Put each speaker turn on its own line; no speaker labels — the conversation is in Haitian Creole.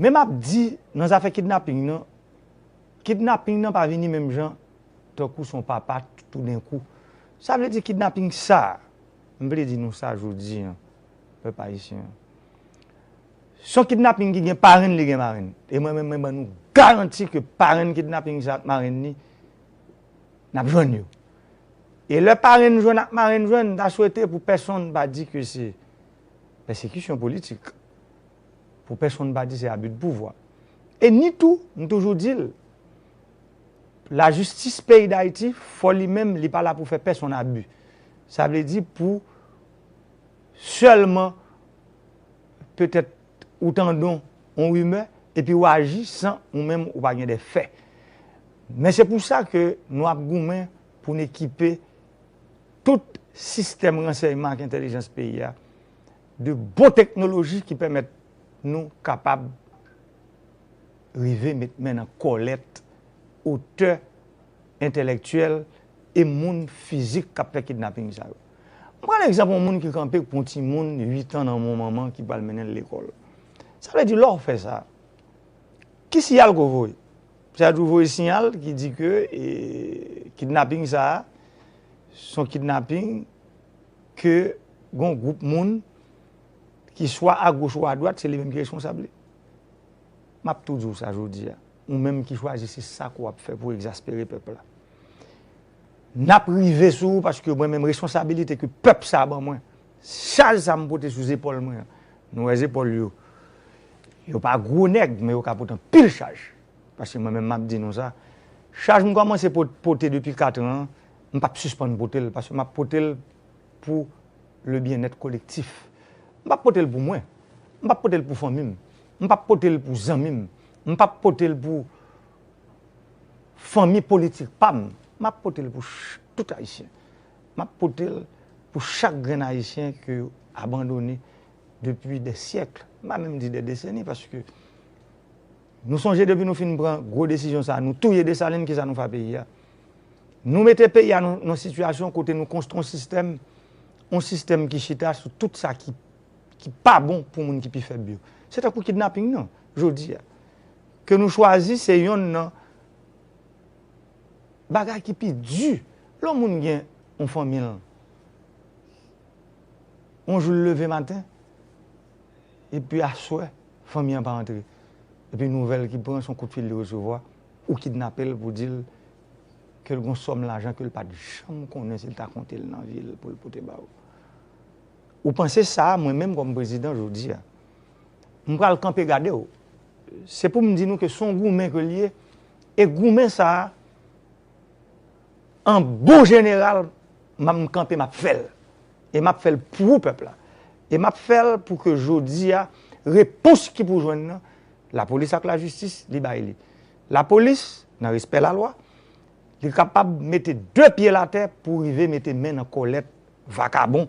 Men map di nan zafè kidnaping nan, kidnaping nan pa vini menm jan tankou son papa toudenkou. Sa vle di kidnaping sa, m vle di nou sa jodi an, pèp ayisyen an. Son kidnaping ki gen parenn li gen marenn. E mwen menm mwen ban nou garanti ke parenn kidnaping sa ak marenn ni, nap jwenn yo. E lè parenn jwenn ak marenn jwenn, m ta swete pou pèsonn pa di ke se pèsekisyon politik, pou pèsonn pa di se abi de pouvwa. E ni tou, m toujou di l, lajistis peyi Dayiti fò li menm li pa la pou fè pèsonn abi. Sa vle di pou sèlman petèt ou tandon yon rimè epi ou aji san ou menm ou pa gen de fè. Men se pou sa ke nou ap goumen pou n ekipe. tout sistèm ransèyman ak entèlijans peyi a, de bon teknoloji ki pèmèt nou kapab rive met men nan kòlèt otè entèlèktyèl e moun fizik k ap fè kidnaping sa yo. M pran egzanp yon moun ki kanpe pou yon timoun uitan nan yon manman ki pral mennen l lekòl. Sa vle di lè w fè sa, ki siyal ke w voye? Sa tou voye siyal ki di ke kidnaping sa a, son kidnaping ke gon gwoup moun ki swa a goch ou a dwat se li menm ki responsab li. M ap tou di w sa jodi a, ou menm ki chwazi se sa ke w ap fè pou w ekzaspere pèp la. N ap rive sou ou paske mwen menm responsabilite ke pèp sa a ban mwen Chaj sa m pote sou zepòl mwen an. Nou wè zepòl yo. Yo pa gwo nèg, men yo ka pot anpil chaj. Paske mwen menm m ap di nou sa, chaj m kòmanse pote depi katran an, m pap sispann pote l, paske m ap pote l pou le byennèt kolektif. M pap pote l pou mwen. M pap pote l pou fanmi m. M pap pote l pou zanmi m. M pap pote l pou fanmi politik pa m. M ap pote l pou tout Ayisyen. Map potel pou chak grenn ayisyen ke yo abandone depi dè syèkl, m pa menm di dè deseni paske nou sonje depi nou fin pran gwo desizyon sa nou touye Desalin kisa nou fè a peyi a? Nou mete peyi a nan sitiyasyon kote nou konstwi yon sistèm, yon sistèm ki chita sou tout sa ki pa bon pou moun ki pi fèb yo. Se tankou kidnaping nan jodi a ke nou chwazi se yonn nan. bagay ki pi di lè yon moun gen yon fanmi l yon jou l leve maten epi aswè fanmi an pa antre epi nouvèl ki pran se yon koutfil li resevwa ou kidnape l pou di l ke l gen yon sòm lajan ke l pat janm konnen si l ta konte l nan vi l pou l pote ba ou ou panse sa mwen menm kòm prezidan jodi a. m pral kanpe gade w, se pou m di nou ke s on goumen ke l ye, e goumen sa a, an bon jeneral, m ap m kanpe m ap fè l, e m ap fè l pou pèp la, e m ap fè l pou ke jodi a, repons ki pou jwenn nan, lapolis ak lajistis, li bay li. Lapolis, nan respè lalwa, li kapab mete de pye l atè pou rive mete men nan kòlèt vakabon,